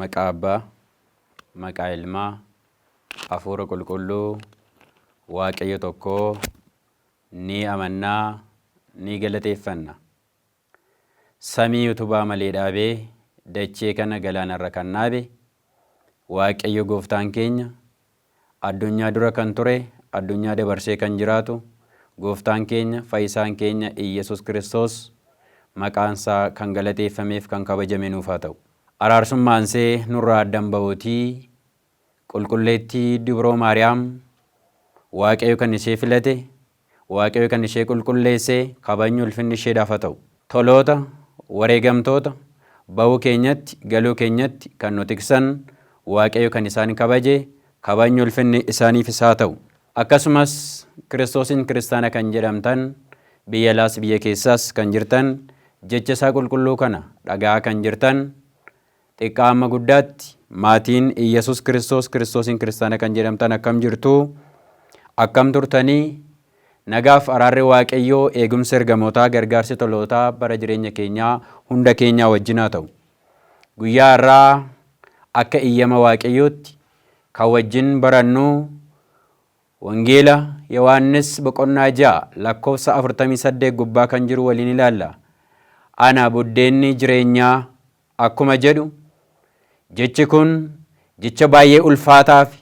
Maqaa Abbaa, maqaa Ilmaa, Hafuura Qulqulluu, Waaqayyo tokkoo, ni amannaa, ni galateeffanna. Samii utubaa malee dhaabee dachee kana galaanarra kan dhaabe Waaqayyo gooftaan keenya, addunyaa dura kan ture, addunyaa dabarsee kan jiraatu gooftaan keenya, fayyisaan keenya Iyyesuus Kiristoos maqaansaa kan galateeffameef kan kabajame nuuf haa ta'u. Araarsummaansee nurraa addan bahuutii Qulqulleettii Dubroo Maariyaam, Waaqayyo kan ishee filate, Waaqayyo kan ishee qulqulleesse, kabajni ulfinni isheedhaaf haa ta'u. Toloota, wareegamtoota, ba'uu keenyatti, galuu keenyatti kan nu tiksan, Waaqayyo kan isaan kabaje, kabajni ulfinni isaaniifis haa ta'u. Akkasumas, Kiristoosiin Kiristaana kan jedhamtan, biyya alaas biyya keessaas kan jirtan, jecha isaa qulqulluu kana dhaga'aa kan jirtan, Xiqqaa amma guddaatti, maatiin Iyyasuus Kiristoos Kiristoosiin Kiristaana kan jedhamtan akkam jirtuu? Akkam turtanii? Nagaaf araarri Waaqayyoo, eegumsi ergamootaa, gargaarsi tolootaa bara jireenya keenyaa hunda keenyaa wajjin haa ta'u. Guyyaa har'aa akka iyyama Waaqayyootti kan wajjin barannu Wangeela Yohaannis boqonnaa 6 lakkoofsa 48 gubbaa kan jiru waliin ilaalla. Ana buddeenni jireenyaa akkuma jedhu, jechi kun jecha baay'ee ulfaataa fi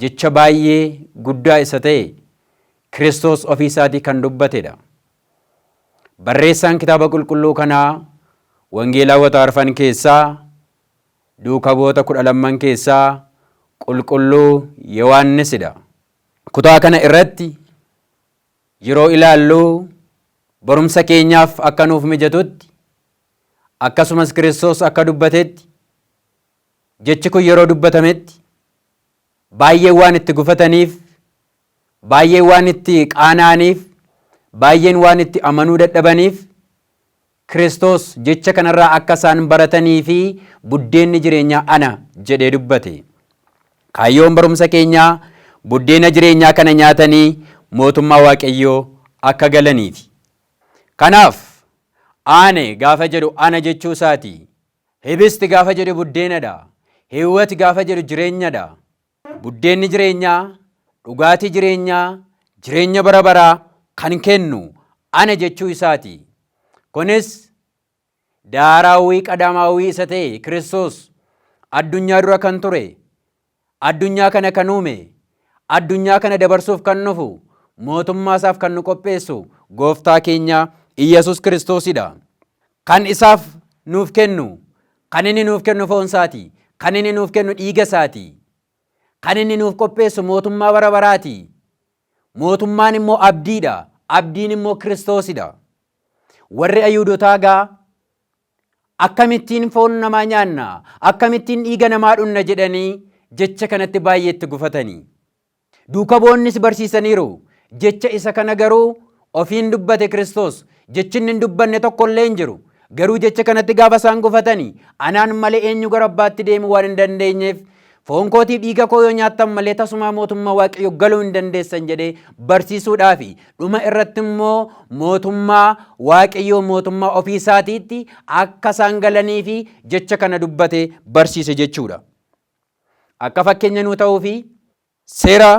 jecha baay'ee guddaa isa ta'e Kiristoos ofii isaatii kan dubbate dha. Barreessaan Kitaaba Qulqulluu kanaa Wangeelaawota arfan keessaa, Duuka Bu'oota kudha lamman keessaa Qulqulluu Yohaannis dha. Kutaa kana irratti yeroo ilaallu barumsa keenyaaf akka nuuf mijatutti Akkasumas Kiristoos akka dubbatetti, jechi kun yeroo dubbatametti baay'een waan itti gufataniif, baay'een waan itti qaana'aniif, baay'een waan itti amanuu dadhabaniif, Kiristoos jecha kanarraa akka isaan baratanii fi buddeenni jireenyaa ana jedhee dubbate. Kaayyoon barumsa keenyaa buddeena jireenyaa kana nyaatanii mootummaa Waaqayyoo akka galaniifi. Kanaaf Aane gaafa jedhu ana jechuu isaati. Hibist gaafa jedhu buddeenadha. Hiwwat gaafa jedhu jireenyadha. Buddeenni jireenyaa, dhugaatii jireenyaa, jireenya bara baraa kan kennu ana jechuu isaati. Kunis daaraawwii qadaamaawwii isa ta'e Kiristoos addunyaa dura kan ture Addunyaa kana kan uume, addunyaa kana dabarsuuf kan dhufu, mootummaa isaaf kan nu qopheessu gooftaa keenya Iyyasuus Kiristoosidha. Kan isaaf nuuf kennu, kan inni nuuf kennu foon isaati, kan inni nuuf kennu dhiiga isaati, kan inni nuuf qopheessu mootummaa bara baraati. Mootummaan immoo abdiidha, abdiin immoo Kiristoosidha. Warri Ayuudotaa gaa Akkamittiin foon namaa nyaanna? Akkamittiin dhiiga namaa dhunna? jedhanii jecha kanatti baay'ee itti gufatani. Duuka bu'onnis barsiisaniiru. Jecha isa kana garuu ofiin dubbate Kiristoos. Jechi inni hin dubbanne tokko illee hin jiru. Garuu jecha kanatti gaafa isaan gufatani anaan malee eenyu gara abbaatti deemuu waan hin dandeenyeef Foon kootiif dhiiga koo yoo nyaattan malee tasumaa mootummaa Waaqayyo galuu hin dandeessan jedhee barsiisuudhaafi dhuma irratti immoo mootummaa Waaqayyoo mootummaa ofii isaatiitti akka isaan galanii fi jecha kana dubbate barsiise jechuudha. Akka fakkeenya nuu ta'uu fi seera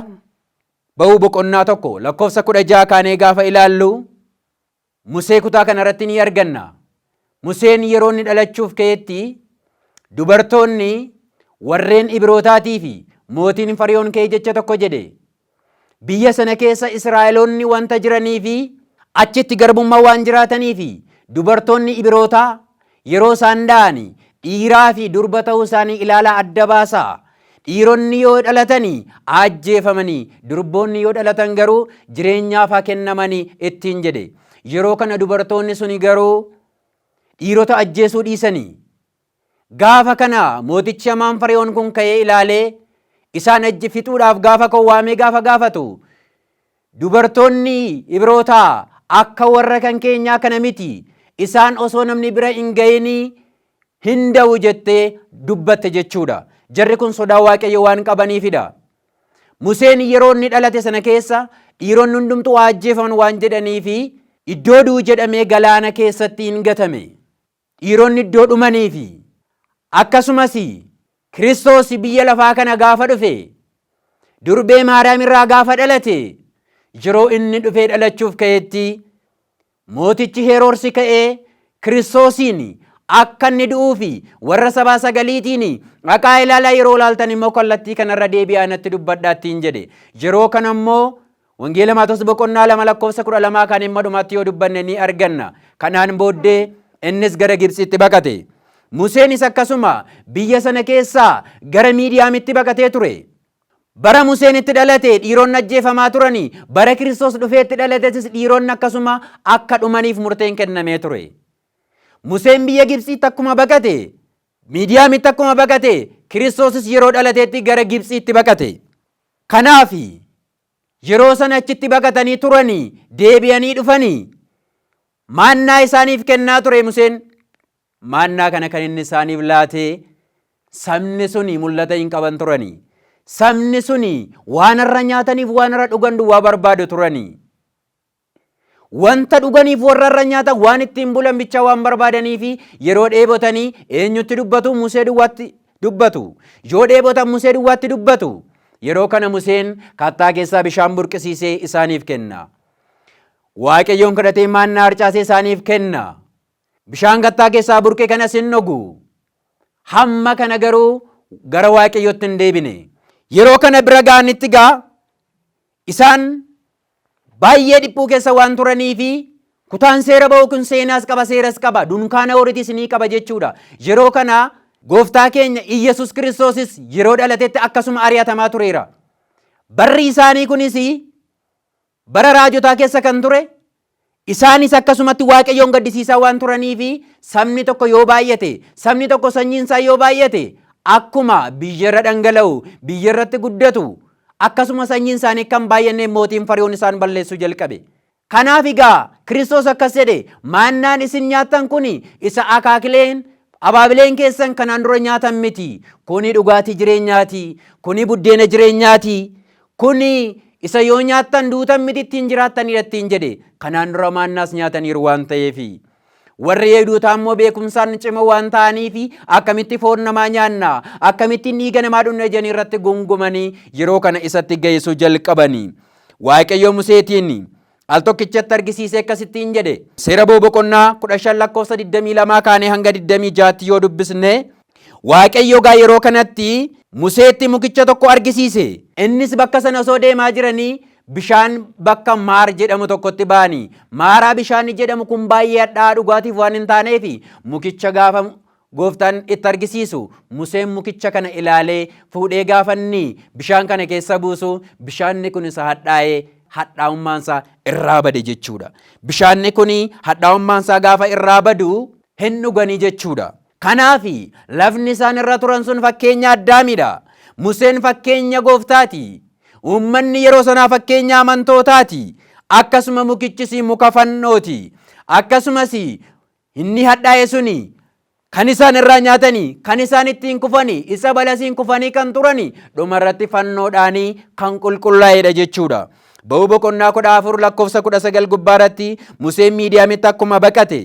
ba'uu boqonnaa tokko lakkoofsa kudha ja'a kaanee gaafa ilaallu Musee kutaa kana irratti ni arganna. Museen yeroo inni dhalachuuf ka'etti dubartoonni warreen Ibrootaatii fi mootiin Fariyoon ka'ee jecha tokko jedhe. Biyya sana keessa Israa'eloonni wanta jiranii fi achitti garbummaa waan jiraatanii fi dubartoonni Ibrootaa Yeroo isaan da'ani dhiiraa fi durba ta'uu isaanii ilaalaa adda baasaa. Dhiironni yoo dhalatani aajjeefamani, durboonni yoo dhalatan garuu jireenyaaf haa kennamani ittiin jedhe. Yeroo kana dubartoonni suni garuu dhiirota ajjeesuu dhiisani. Gaafa kana mootichi hamaan Fari'oon kun ka'ee ilaalee isaan ajje fixuudhaaf gaafa koo waamee gaafa gaafatu Dubartoonni Ibrootaa akka warra kan keenyaa kana miti, isaan osoo namni bira hin ga'ini hin da'u jettee dubbatte jechuudha. Jarri kun sodaa Waaqayyo waan qabaniifidha. Museen yeroo inni dhalate sana keessa dhiironni hundumtuu haa ajjeefaman waan jedhaniifi iddoo du'u jedhamee galaana keessatti hin gatame. Dhiironni iddoo dhumanii fi akkasumas Kiristoos biyya lafaa kana gaafa dhufe, durbee Maariyaam irraa gaafa dhalate, yeroo inni dhufee dhalachuuf ka'etti mootichi Heeroorsi ka'ee Kiristoosiin akka inni du'uu fi warra sabaa sagaliitiin dhaqaa ilaalaa yeroo ilaaltan immoo kallattii kanarra deebi'aa natti dubbadhaa ittiin jedhe. Yeroo kana immoo Wangeela Maatos boqonnaa 2 lakkoofsa 12 kan himma dhumaatti yoo dubbanne ni arganna. Kanaan booddee innis gara Gibtsiitti baqate. Museenis akkasuma biyya sana keessaa gara Miidiyaamitti baqatee ture. Bara Museen itti dhalate dhiironni ajjeefamaa turani, bara Kiristoos dhufee itti dhalatetis dhiironni akkasuma akka dhumaniif murteen kennamee ture. Museen biyya Gibtsiitti akkuma baqate, Miidiyaamitti akkuma baqate, Kiristoosis yeroo dhalateetti gara Gibtsiitti baqate. Kanaafi Yeroo sana achitti baqatanii turanii deebi'anii dhufanii maannaa isaaniif kennaa ture Museen. Maannaa kana kan inni isaaniif laatee sabni suni mul'ata hin qaban turanii. Sabni suni waan irra nyaataniif waan irra dhugan duwwaa barbaadu turanii. Wanta dhuganiif warra irra nyaatan waan ittiin bulan bicha waan barbaadanii fi yeroo dheebotanii eenyutti dubbatu? Musee duwwaatti dubbatu. Yoo dheebotan Musee duwwaatti dubbatu. Yeroo kana Museen kattaa keessaa bishaan burqisiisee isaaniif kenna. Waaqayyoon kadhatee maannaa harcaasee isaaniif kenna. Bishaan kattaa keessaa burqe kanas hin dhugu. Hamma kana garuu gara Waaqayyootti hin deebine. Yeroo kana bira ga'anitti gaa isaan Baay'ee dhiphuu keessa waan turaniifi kutaan seera ba'uu kun seenaas qaba seeras qaba dunkaana horitis ni qaba jechuudha. Yeroo kana gooftaa keenya Iyyasuus Kiristoosis yeroo dhalatetti akkasuma ari'atamaa tureera. Barri isaanii kunis bara raajotaa keessa kan ture Isaanis akkasumatti Waaqayyoon gaddisiisaa waan turaniif sabni tokko yoo baay'ate, sabni tokko sanyiin isaa yoo baay'ate akkuma biyyarra dhangala'u, biyyarratti guddatu, akkasuma sanyiin isaanii akka hin baay'anne mootiin Fari'oon isaan balleessuu jalqabe. Kanaaf egaa Kiristoos akkas jedhe maannaan isin nyaattan kun isa akaakileen abaabileen keessan kanaan dura nyaatan miti. Kuni dhugaatii jireenyaati. Kuni buddeena jireenyaati. Kun isa yoo nyaattan duutan miti ittiin jiraattaniidha ittiin jedhe. Kanaan dura maannaas nyaataniiru waan ta'eefi. Warri Yahudotaa immoo beekumsaan cimoo waan ta'aniif akkamitti foon namaa nyaanna, akkamittiin dhiiga namaa dhugna jedhanii irratti gungumanii yeroo kana isatti ga'isuu jalqabani. Waaqayyo Museetiin Al tokkichatti argisiisee akkas ittiin jedhe. Seera Bo boqonnaa 15 lakkoofsa 22 kaanee hanga 26tti yoo dubbisne Waaqayyo gaa yeroo kanatti Museetti mukicha tokko argisiise. Innis bakka sana osoo deemaa jiranii bishaan bakka maar jedhamu tokkotti ba'anii maaraa bishaanni jedhamu kun baay'ee hadhaa'aa dhugaatiif waan hin taaneef mukicha gaafa Gooftaan itti argisiisu. Museen mukicha kana ilaalee, fuudhee gaafa inni bishaan kana keessa buusu, bishaanni kun isa hadhaa'ee hadhaa'ummaansaa irraa bade jechuudha. Bishaanni kun hadhaa'ummaansaa gaafa irraa badu hin dhuganii jechuudha. Kanaaf lafni isaan irra turan sun fakkeenya Addaamidha. Museen fakkeenya gooftaati. Uummanni yeroo sanaa fakkeenya amantootaati. Akkasuma mukichis muka fannooti. Akkasumas Inni hadhaa'e suni kan isaan irraa nyaatanii, kan isaan ittiin kufanii, isa balasiin kufanii kan turanii, dhuma irratti fannoodhaanii kan qulqullaa'edha jechuudha. Ba'uu boqonnaa kudha afur lakkoofsa kudha sagal gubbaa irratti Museen Miidiyaamitti akkuma baqate.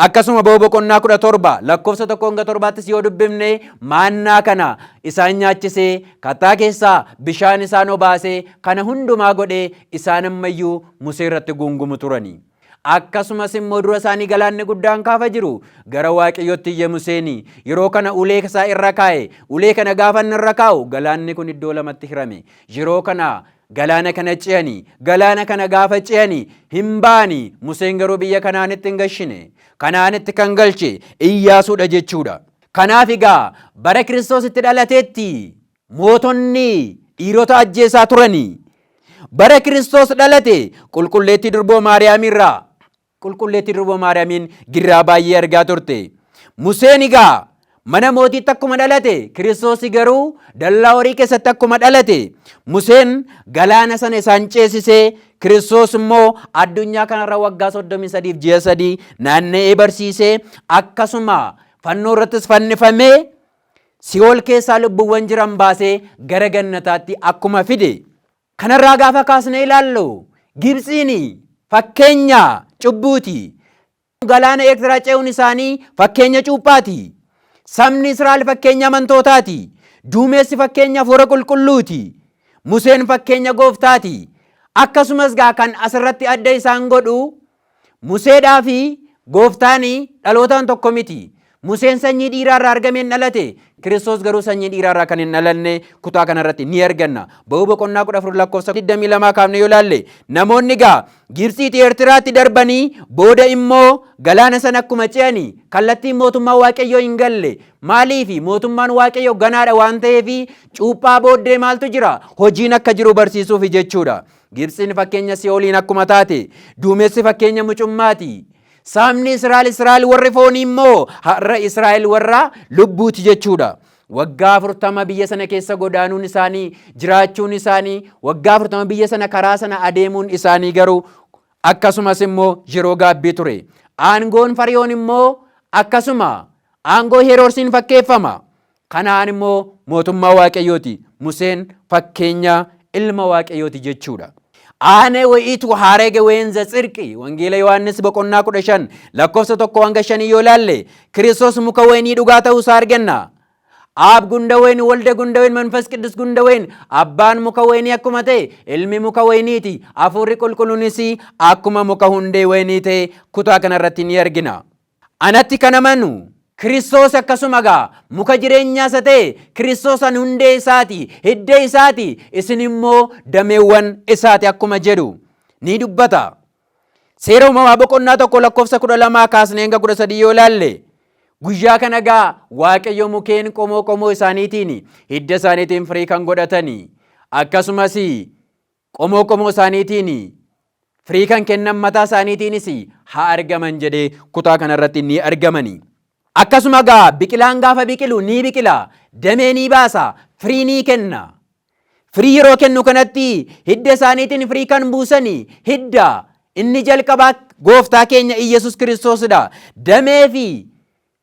Akkasuma ba'uu boqonnaa kudha torba lakkoofsa tokko hanga torbaattis yoo dubbifne maannaa kana isaan nyaachisee kattaa keessaa bishaan isaan obaasee kana hundumaa godhee isaan ammayyuu Musee irratti guungumu turanii. Akkasumas immoo dura isaanii galaanni guddaan kaafa jiru gara Waaqayyootti iyye Museeni. Yeroo kana ulee isaa irra kaa'e. Ulee kana gaafa inni irra kaa'u galaanni kun iddoo lamatti hirame. Yeroo kana galaana kana ce'ani. Galaana kana gaafa ce'ani hin ba'ani. Museen garuu biyya Kanaanitti hin gashine. Kanaanitti kan galche Iyyaasuudha jechuudha. Kanaaf egaa bara Kiristoos itti dhalateetti Mootonni dhiirota ajjeesaa turani. Bara Kiristoos dhalate Qulqulleettii Durboo Maariyaamiirraa Qulqulleettii Durboo Maariyaamiin girraa baay'ee argaa turte. Museen egaa mana mootiitti akkuma dhalate Kiristoosi garuu dallaa horii keessatti akkuma dhalate Museen galaana sana isaan ceesisee Kiristoos immoo addunyaa kanarra waggaa 33 ji'a sadii naanna'ee barsiisee akkasuma fannoo irrattis fannifamee Si'ool keessaa lubbuuwwan jiran baasee gara gannataatti akkuma fide. Kanarraa gaafa kaasnee ilaallu Gibtsiin fakkeenya cubbuuti. Galaana Eertiraa ce'uun isaanii fakkeenya cuuphaati. Sabni Israa'el fakkeenya amantootaati. Duumessi fakkeenya hafuura qulqulluuti. Museen fakkeenya gooftaati. Akkasumas gaa kan asirratti adda isaan godhu Museedhaa fi Gooftaan dhalootaan tokko miti. Museen sanyii dhiiraa irraa argame hin dhalate. Kiristoos garuu sanyii dhiiraa irraa kan hin dhalanne kutaa kana irratti ni arganna. Ba'uu boqonnaa 14 lakkoofsa 22 kaafne yoo ilaalle namoonni gaa Gibtsiitii Eertiraatti darbanii booda immoo galaana sana akkuma ce'anii kallattiin mootummaa Waaqayyoo hin galle. Maaliif mootummaan Waaqayyoo ganaadha waan ta'eef cuuphaa booddee maaltu jira? Hojiin akka jiru barsiisuuf jechuudha. Gibtsiin fakkeenya si'ooliin akkuma taate, duumessi fakkeenya mucummaati. Saamni Israa'el Israa'el warri foonii immoo har'a Israa'el warra lubbuuti jechuudha. Waggaa afurtama biyya sana keessa godaanuun isaanii, jiraachuun isaanii, waggaa afurtama biyya sana karaa sana adeemuun isaanii garuu akkasumas immoo yeroo gaabbii ture. Aangoon Fariyoon immoo akkasuma aangoo Heeroorsiin fakkeeffama. Kana'aan immoo mootummaa Waaqayyooti. Museen fakkeenya ilma Waaqayyooti jechuudha. Aane wa'iitu haarege weenza tsirqi wangeela Yohaannis boqonnaa kudha shan lakkoofsa tokko hanga shanii yoo laalle Kiristoos muka wayinii dhugaa ta'uu isaa arganna. Aab gundawen walde gundawen manfas qiddus gundawen abbaan muka wayinii akkuma ta'e ilmi muka wayiniiti hafuurri qulqulluunis akkuma muka hundee wayinii ta'e kutaa kanarratti ni argina. Anatti kan amanu Kiristoos akkasuma egaa muka jireenyaa isa ta'e Kiristoos ani hundee isaati, hidda isaati, isin immoo dameewwan isaati akkuma jedhu ni dubbata. Seera uumamaa boqonnaa tokko lakkoofsa kudha lamaa kaasnee hanga kudha sadii yoo ilaalle guyyaa kana egaa waaqayyo mukeen qomoo qomoo isaaniitiin hidda isaaniitiin firii kan godhatani akkasumas Qomoo qomoo isaaniitiin firii kan kennan mataa isaaniitiinis haa argaman jedhee kutaa kanarratti ni argamani. Akkasuma gaa biqilaan gaafa biqilu ni biqila, damee ni baasa, firii ni kenna. Firii yeroo kennu kanatti hidda isaaniitiin firii kan buusani hidda inni jalqabaa gooftaa keenya Iyyasuus Kiristoosidha. Damee fi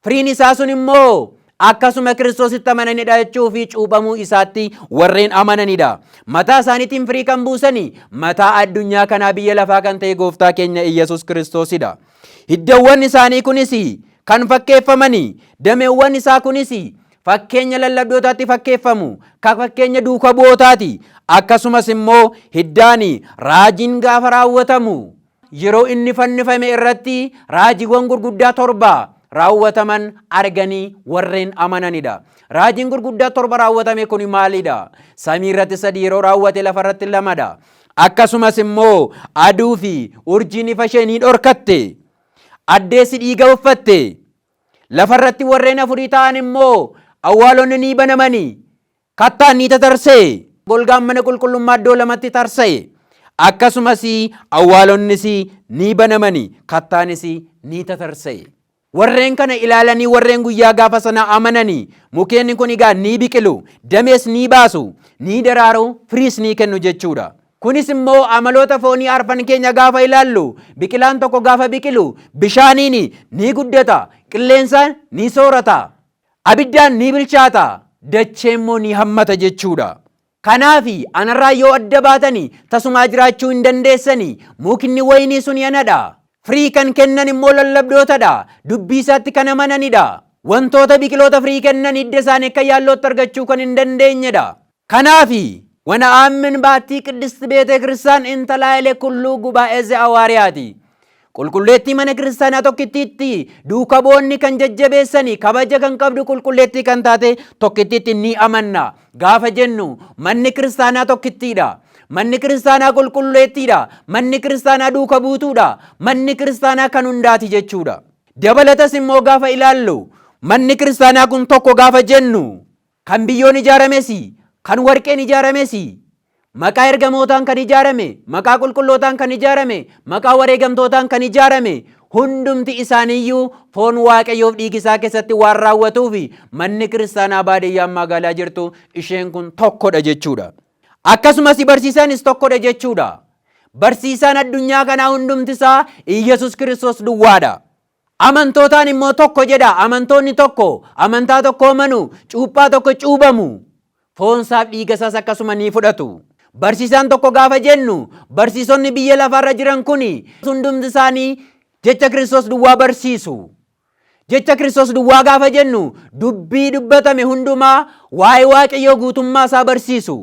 Firiin isaa sun immoo akkasuma Kiristoositti amananii dha'achuu fi cuuphamuu isaatti warreen amananidha. Mataa isaaniitiin firii kan buusani mataa addunyaa kanaa biyya lafaa kan ta'e gooftaa keenya Iyyasuus Kiristoosidha. Hiddawwan isaanii kunis kan fakkeeffamani dameewwan isaa kunis fakkeenya lallabdootaatti fakkeeffamu ka fakkeenya duuka bu'ootaati. Akkasumas immoo hiddaani raajiin gaafa raawwatamu Yeroo inni fannifame irratti raajiiwwan gurguddaa torba raawwataman arganii warreen amananidha. Raajiin gurguddaa torba raawwatame kun maalidha? Samii irratti sadi yeroo raawwate lafa irratti lamadha. Akkasumas immoo aduu fi urjiin ifa ishee ni dhorkatte. Addeessi dhiiga uffatte. Lafa irratti warreen afurii ta'an immoo awwaalonni ni banamani. Kattaan ni tatarsa'e, golgaan mana qulqullummaa iddoo lamatti tarsa'e, akkasumas awwaalonnis ni banamani, kattaanis ni tatarsa'e. Warreen kana ilaalanii warreen guyyaa gaafa sana amanani, mukeenni kun egaa ni biqilu, damees ni baasu, ni daraaru, firiis ni kennu jechuudha. Kunis immoo amaloota foonii arfan keenya gaafa ilaallu, biqilaan tokko gaafa biqilu bishaaniin ni guddata, qilleensa ni soorata, Abiddaan ni bilchaata, dachee immoo ni hammata jechuu dha. Kanaafi, anarraa yoo adda baatani, tasumaa jiraachuu hin dandeessani. Mukni wayinii suni ana dha. Firii kan kennan immoo lallabdoota dha, dubbii isaatti kan amanani dha. Wantoota biqiloota firii kennan hidda isaanii akka yaallootti argachuu kan hin dandeenye dha. Kanaafi, wana'aammin baattii Qiddist Beetee Kiristaan Intalaa'elee Kulluu Gubaa'ee Ze'awaariyaati. Qulqulleettii Mana Kiristaanaa tokkittiitti duuka bu'oonni kan jajjabeessani kabaja kan qabdu qulqulleettii kan taate tokkittiitti ni amanna gaafa jennu manni kiristaanaa tokkittiidha. Manni kiristaanaa qulqulleettiidha. Manni kiristaanaa duuka buutuudha. Manni kiristaanaa kan hundaati jechuudha. Dabalatas immoo gaafa ilaallu manni kiristaanaa kun tokko gaafa jennu Kan biyyoon ijaarames, kan warqeen ijaarames, maqaa ergamootaan kan ijaarame, maqaa qulqullootaan kan ijaarame, maqaa wareegamtootaan kan ijaarame, hundumti isaaniiyyuu foon Waaqayyoof dhiigi isaa keessatti waan raawwatuuf manni kiristaanaa baadiyyaan magaalaa jirtu isheen kun tokkodha jechuudha. Akkasumas barsiisaanis tokkodha jechuudha. Barsiisaan addunyaa kanaa hundumti isaa Iyyasuus Kiristoos duwwaadha. Amantootaan immoo tokko jedha. Amantoonni tokko amantaa tokkoo manu, cuuphaa tokko cuubamu. Foonsaaf dhiigasaas akkasuma ni fudhatu. Barsiisaan tokko gaafa jennu barsiisonni biyya lafaarra jiran kuni hundumti isaanii jecha Kiristoos duwwaa barsiisu. Jecha Kiristoos duwwaa gaafa jennu dubbii dubbatame hundumaa waa'ee Waaqayyoo guutummaa isaa barsiisu.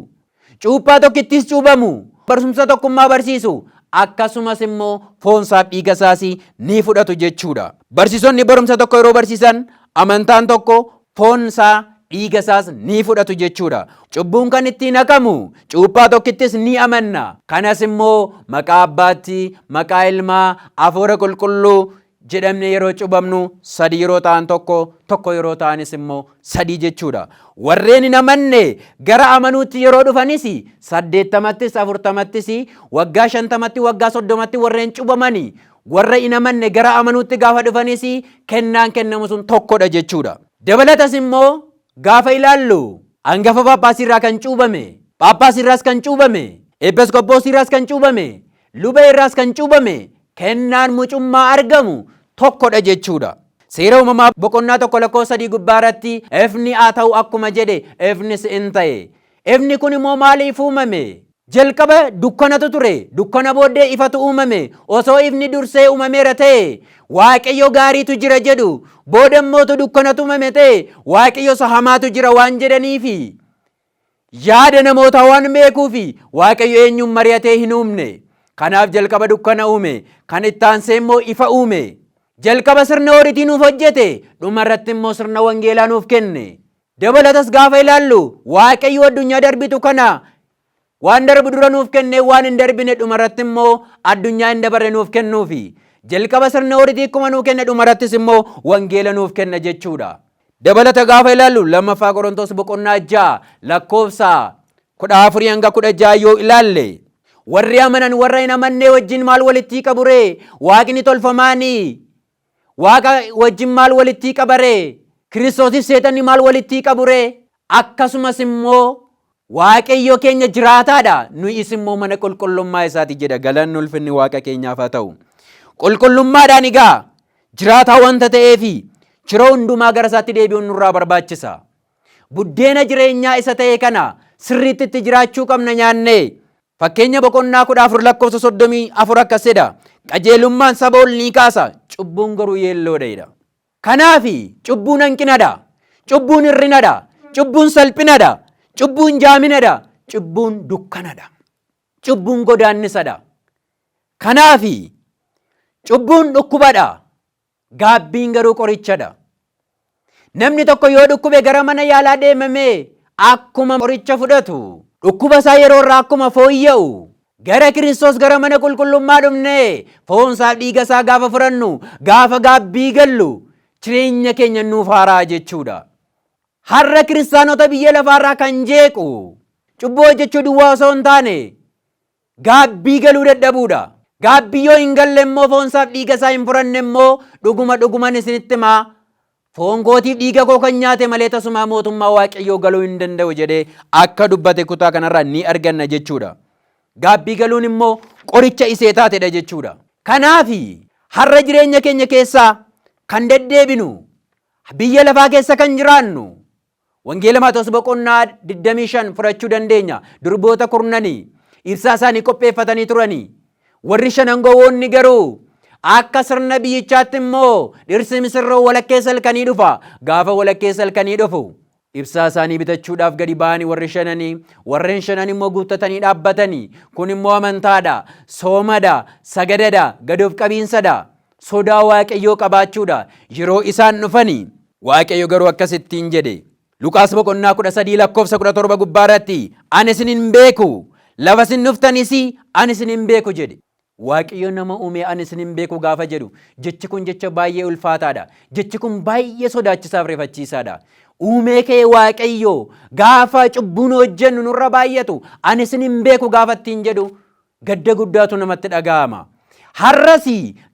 Cuuphaa tokkittiis cuubamu. Barsumsa tokkummaa barsiisu. Akkasumas immoo foonsaaf dhiigasaas ni fudhatu jechuudha. Barsiisonni barumsa tokko yeroo barsiisan amantaan tokko foonsaa dhiigasaas ni fudhatu jechuudha. Cubbuun kan ittiin haqamu cuuphaa tokkittis ni amanna. Kanas immoo maqaa abbaatti, maqaa ilmaa, afuura qulqulluu jedhamne yeroo cubamnu sadii yeroo ta'an tokko, tokko yeroo ta'anis immoo sadii jechuudha. Warreen hin amanne gara amanuutti yeroo dhufanis saddeettamattis, afurtamattis, waggaa shantamatti, waggaa soddomatti warreen cubamani warra hin amanne gara amanuutti gaafa dhufanis kennaan kennamu sun tokkodha jechuudha. Dabalatas immoo gaafa ilaallu angafa phaaphaasiirraa kan cuubame, phaaphaasiirraas kan cuubame, eepiskoppoosiirraas kan cuubame, Luba irraas kan cuubame kennaan mucummaa argamu tokko dha jechuu dha. Seera Uumamaa boqonnaa 1 lakkoofsa 3 gubbaa irratti ifni haa ta'u akkuma jedhe ifnis in ta'e. Ifni kun immoo maaliif uumame? Jalqaba dukkanatu ture, dukkana booddee ifatu uumame. Osoo ifni dursee uumameera ta'e, Waaqayyo gaariitu jira jedhu. Booda immoo utuu dukkanatu uumame ta'e, Waaqayyo isa hamaatu jira waan jedhaniifi. Yaada namootaa waan beekuu fi Waaqayyo eenyuun mari'atee hin uumne. Kanaaf jalqaba dukkana uume, kan itti aansee immoo ifa uume. Jalqaba sirna ooritii nuuf hojjete, dhuma irratti immoo sirna wangeelaa nuuf kenne. Dabalatas gaafa ilaallu Waaqayyo addunyaa darbitu kana waan darbu dura nuuf kennee waan hin darbine dhuma irratti immoo addunyaa hin dabarre nuuf kennuufi. Jalqaba sirna ooritii akkuma nuu kenne dhuma irrattis immoo wangeela nuuf kenna jechuudha. Dabalata gaafa ilaallu 2ffaa Qorontos boqonnaa 6 lakkoofsa 14 hanga 16 yoo ilaalle warri amanan warra hin amannee wajjin maal walittii qaburee waaqni tolfamaanii waaqa wajjin maal walittii qabaree kiristoosis seetanni maal walittii qaburee akkasumas immoo Waaqayyo keenya jiraataa dha, nuyis immoo mana qulqullummaa isaati jedha. Galanni ulfinni Waaqa keenyaaf haa ta'u. Qulqullummaadhaan egaa jiraataa wanta ta'eefi yeroo hundumaa gara isaatti deebi'uun nurraa barbaachisa. Buddeena jireenyaa isa ta'e kana sirriitti itti jiraachuu qabna nyaannee. Fakkeenya boqonnaa kudha afur lakkoofsa soddomii afur akkas jedha. Qajeelummaan saba ol ni kaasa, cubbuun garuu yeelloodha jedha. Kanaafi, cubbuun hanqina dha. Cubbuun hir'ina dha. Cubbuun salphina dha. Cubbuun jaamina dha. Cubbuun dukkana dha. Cubbuun godaannisa dha. Kanaafi, cubbuun dhukkuba dha. Gaabbiin garuu qoricha dha. Namni tokko yoo dhukkube gara mana yaalaa deemamee akkuma qoricha fudhatu, dhukkuba isaa yeroo irraa akkuma fooyya'u, Gara Kiristoos gara mana qulqullummaa dhufnee foonsaaf dhiigasaa gaafa fudhannu gaafa gaabbii gallu jireenya keenya nuuf haaraa jechuudha. Har'a kiristaanota biyya lafaarraa kan jeequ cubbuu hojjechuu duwwaa osoo hin taane gaabbii galuu dadhabuudha. Gaabbii yoo hin galle immoo foonsaaf dhiigasaa hin fudhanne immoo dhuguma dhuguman isinitti himaa Foon kootiif dhiiga koo kan nyaate malee tasumaa mootummaa Waaqayyoo galuu hin danda'u jedhee akka dubbate kutaa kanarraa ni arganna jechuudha. Gaabbii galuun immoo qoricha isee taatedha jechuudha. Kanaaf har'a jireenya keenya keessaa kan deddeebinu biyya lafaa keessa kan jiraannu Wangeela Maatewos boqonnaa 25 fudhachuu dandeenya. Durboota kurnanii ibsaa isaanii qopheeffatanii turanii. Warri shanan gowwoonni garuu akka sirna biyyichaatti immoo dhirsi misirroo walakkeessa halkanii dhufa. Gaafa walakkeessa halkanii dhufu ibsaa isaanii bitachuudhaaf gadi ba'anii warri shananii warreen shanan immoo guuttatanii dhaabbatanii kun immoo amantaadha, soomadha, sagadadha, gad of qabiinsadha. sodaa Waaqayyoo qabaachuudha. Yeroo isaan dhufani Waaqayyo garuu akkas ittiin jedhe. Luqaas boqonnaa 13 lakkoofsa 17 gubbaa irratti ani isin hin beeku lafa isin dhuftanis ani isin hin beeku jedhe. Waaqayyo nama uumee ani isin hin beeku gaafa jedhu jechi kun jecha baay'ee ulfaataadha. Jechi kun baay'ee sodaachisaaf rifachiisaadha. Uumee kee Waaqayyo gaafa cubbuun hojjennu nurra baay'atu ani isin hin beeku gaafa ittiin jedhu Gadda guddaatu namatti dhaga'ama. Har'as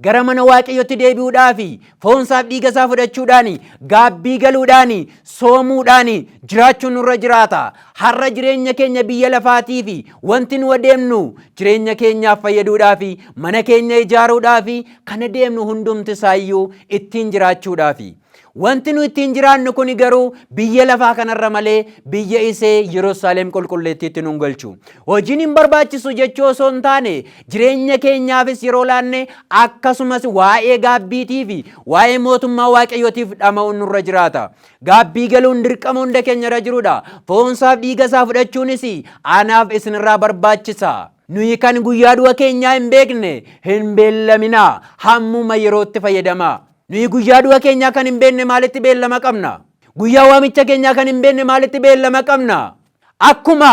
gara mana Waaqayyootti deebi'uudhaaf, foonsaaf dhiigasaa fudhachuudhaan, gaabbii galuudhaan, soomuudhaan jiraachuun nurra jiraata. Har'a jireenya keenya biyya lafaatiif wanti nu adeemnu jireenya keenyaaf fayyaduudhaaf, mana keenya ijaaruudhaaf kan adeemnu hundumti isaayyuu ittiin jiraachuudhaafi. Wanti nu ittiin jiraannu kuni garuu biyya lafaa kanarra malee biyya isee Yerusaalem qulqulleettiitti nun galchu. Hojiin hin barbaachisu jechuu osoo hin taane jireenya keenyaafis yeroo laanne akkasumas waa'ee gaabbiitii fi waa'ee mootummaa waaqayyootiif dhama'uun nurra jiraata. Gaabbii galuun dirqama hunda keenya irra jirudha. Foonsaaf dhiiga isaa fudhachuunis anaaf isinirraa barbaachisa. Nuyi kan guyyaa du'a keenyaa hin beekne hin beellaminaa hammuma yerootti fayyadamaa. Nuyi guyyaa du'a keenyaa kan hin beekne maalitti beellama qabna? Guyyaa waamicha keenyaa kan hin beekne maalitti beellama qabna? Akkuma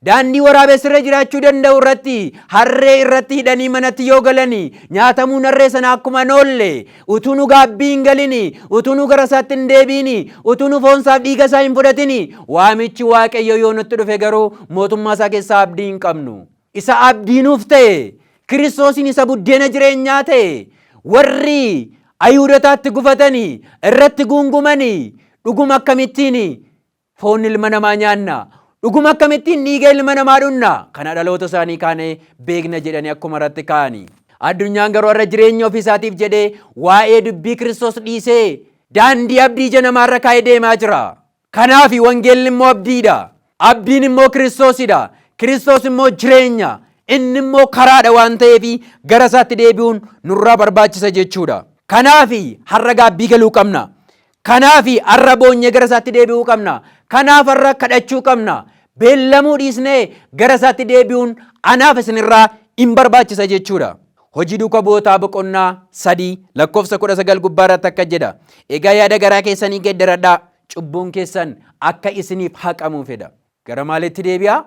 daandii waraabessirra jiraachuu danda'u irratti harree irratti hidhanii manatti yoo galani nyaatamuun harree sana akkuma hin oolle utuu nu gaabbii hin galini utuu nu gara isaatti hin deebiini utuu nu foon isaaf dhiiga isaa hin fudhatini waamichi waaqayyo yoo nutti dhufe garuu mootummaa isaa keessaa abdii hin qabnu. Isa abdii nuuf ta'e, Kiristoosiin isa buddeena jireenyaa ta'e, warri Ayihudotaatti gufatani, irratti guungumani, dhuguma akkamittiin foon ilma namaa nyaanna, dhuguma akkamittiin dhiiga ilma namaa dhunna, kana dhaloota isaanii kaane beekna jedhanii akkuma irratti ka'ani. Addunyaan garuu har'a jireenya ofii isaatiif jedhee waa'ee dubbii Kiristoos dhiisee daandii abdii ija namaarra kaa'ee deemaa jira. Kanaafi wangeelli immoo abdiidha. Abdiin immoo Kiristoosidha. Kiristoos immoo jireenya. Inni immoo karaadha waan ta'eefi gara isaatti deebi'uun nurraa barbaachisa jechuudha. Kanaafi har'a gaabbii galuu qabna. Kanaafi har'a boonyee gara isaatti deebi'uu qabna. Kanaaf har'a kadhachuu qabna. Beellamuu dhiisnee gara isaatti deebi'uun anaaf isinirraa in barbaachisa jechuudha. Hojii Duuka Bu'ootaa boqonnaa 3 lakkoofsa 19 gubbaa irratti akka jedha. Egaa yaada garaa keessanii geddaradhaa, cubbuun keessan akka isiniif haqamuuf jedha. Gara maalitti deebi'aa?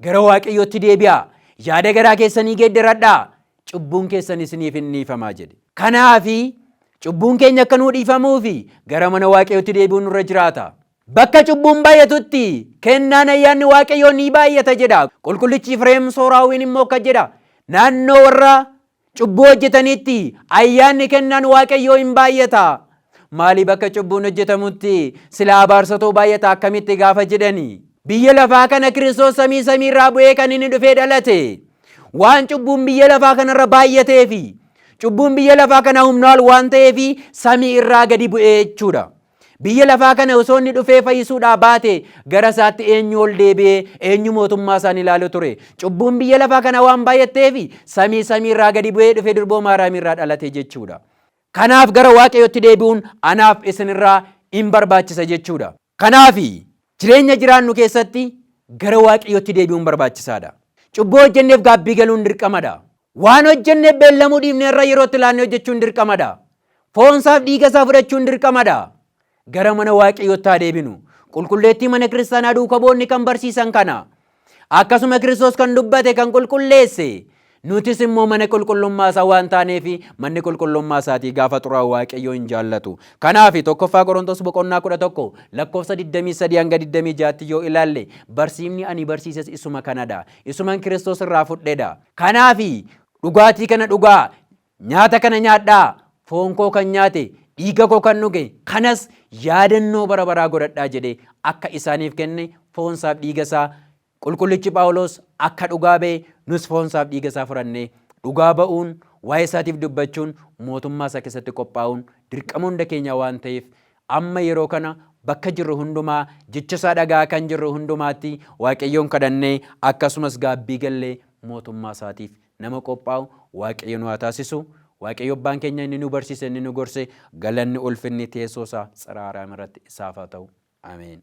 Gara Waaqayyootti deebi'aa. Yaada garaa keessanii geddaradhaa, cubbuun keessan isiniif in dhiifamaa jedhe. Kanaafi cubbuun keenya akka nuu dhiifamuufi gara mana Waaqayyootti deebi'uun nurra jiraata. Bakka cubbuun baay'atutti kennaan ayyaanni Waaqayyoo ni baay'ata jedha. Qulqullichi Ifreem Sooraawiin immoo akkas jedha. Naannoo warra cubbuu hojjetaniitti ayyaanni kennaan Waaqayyoo hin baay'ata. Maali bakka cubbuun hojjetamutti sila abaarsatoo baay'ata akkamitti gaafa jedhani. Biyya lafaa kana Kiristoos samii samii irraa bu'ee kan inni dhufee dhalate. Waan cubbuun biyya lafaa kanarra baay'ateefi. Cubbuun biyya lafaa kana humnaa ol waan ta'eefi samii irraa gadi bu'ee jechuudha. Biyya lafaa kana osoo inni dhufee fayyisuudhaa baate gara isaatti eenyu ol deebi'ee eenyu mootummaa isaan ilaalu ture. Cubbuun biyya lafaa kana waan baay'atteef samii samii irraa gadi bu'ee dhufe durboo Maariyaamii irraa dhalate jechuudha. Kanaaf gara Waaqayyootti deebi'uun anaaf isinirraa in barbaachisa jechuudha. Kanaaf jireenya jiraannu keessatti gara Waaqayyootti deebi'uun barbaachisaadha. Cubbuu hojjenneef gaabbii galuun dirqamadha. Waan hojjennee beellamuu dhiifne irra yerootti laannee hojjechuun dirqama dha. Foon isaaf dhiiga isaa fudhachuun dirqama dha. Gara mana Waaqayyootti haa deebinu. Qulqulleettii mana kiristaanaa duuka bu'oonni kan barsiisan kana. Akkasuma Kiristoos kan dubbate kan qulqulleesse. Nutis immoo mana qulqullummaa isaa waan taaneef manni qulqullummaa isaatii gaafa xuraa'u Waaqayyoo hin jaallatu. Kanaaf tokkoffaa Qorontos boqonnaa 11 lakkoofsa 23 hanga 26tti yoo ilaalle barsiifni ani barsiises isuma kanadha. Isuman Kiristoos irraa fudhedha. Kanaafi dhugaatii kana dhugaa, nyaata kana nyaadhaa, foon koo kan nyaate, dhiiga koo kan dhuge, kanas yaadannoo bara baraa godhadhaa jedhee akka isaaniif kenne foonsaaf dhiigasaa Qulqullichi Phaawulos akka dhugaa ba'e nus foonsaaf dhiigasaa fudhannee dhugaa ba'uun, waa'eesaatiif dubbachuun, mootummaasaa keessatti qophaa'uun dirqama hunda keenyaa waan ta'eef Amma yeroo kana bakka jirru hundumaa jecha isaa dhaga'aa kan jirru hundumaatti Waaqayyoon kadhannee akkasumas gaabbii gallee mootummaa isaatiif nama qophaa'u Waaqayyo nu haa taasisu. Waaqayyo abbaan keenya inni nu barsiise inni nu gorse galanni ulfinni teessoo isaa tsira Aaraam irratti isaaf haa ta'u. Ameen.